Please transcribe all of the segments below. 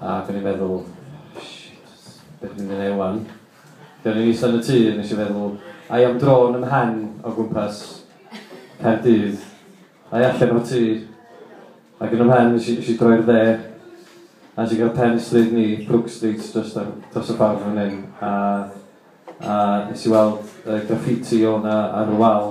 Ac o'n i'n meddwl, shit, be dwi'n mynd i wneud 'wan? Felly o'n i'n eistedd yn y tŷ, nes i feddwl, ai am dro yn 'y mhen o gwmpas Caerdydd, ai allan o'r tŷ? Ac yn 'y mhen, nes i, nes i droi'r dde, a nes i gael pen stryd ni, Brook Street, jyst ar dros y ffordd fan hyn, a a nes i weld yy graffiti o' 'na ar y wal,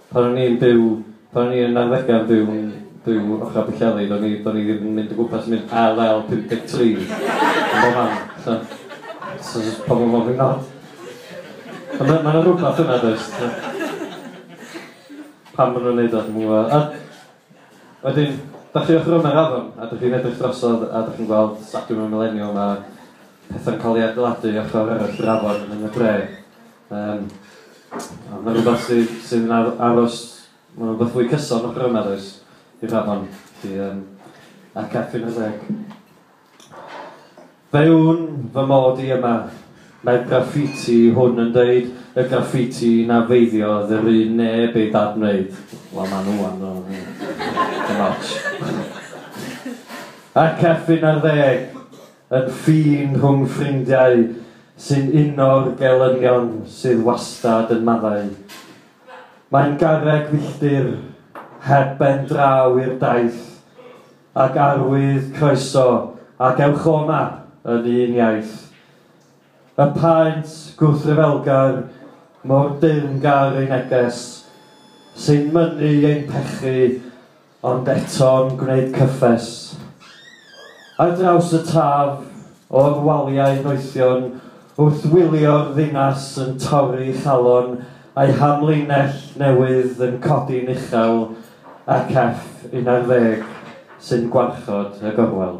Pan o'n i'n byw, pan o'n i yn arddegau byw, byw ochr Pwllheli, do'n i, do'n i ddim yn mynd o gwmpas yn mynd LL 53 yn bob man, so, so jyst pobl yn gofyn not. Ond ma' ma' 'na rwbath yna does, so. Pam ma' nhw'n neud o dwi'm yn gwybod. A wedyn, dach chi ochr yma'r afon a dach chi'n edrych drosodd a dach chi'n gweld stadiwm y Mileniwm a pethau'n cael ei adeiladu ochr arall yr afon yn y dre. Yym, a ma' rwbath sy sydd yn ar- aros, ma' rwbath fwy cyson o Bryn Arys i'r afon, felly yym a Catrin ar ddeg. Fe wn fy mod i yma, mae'r graffiti hwn yn deud, y graffiti na feiddiodd yr un neb ei ddad-wneud. Wel, ma' nhw wan, ddo, neu dim otsh. A Catrin ar ddeg. Yn ffin rhwng ffrindiau sy'n uno'r gelynion sydd wastad yn maddau. Mae'n garreg filltir heb ben draw i'r daith, ac arwydd croeso ac ewch o 'ma yn un iaith. Y paent gwrthryfelgar mor deyrngar ei neges, sy'n mynnu ein pechu, Ond eto'n gwneud cyffes. Ar draws y taf, o'r waliau noethion wrth wylio'r ddinas yn torri chalon a'i hamlinell newydd yn codi'n uchel ac Eff un ar ddeg sy'n gwarchod y gorwel.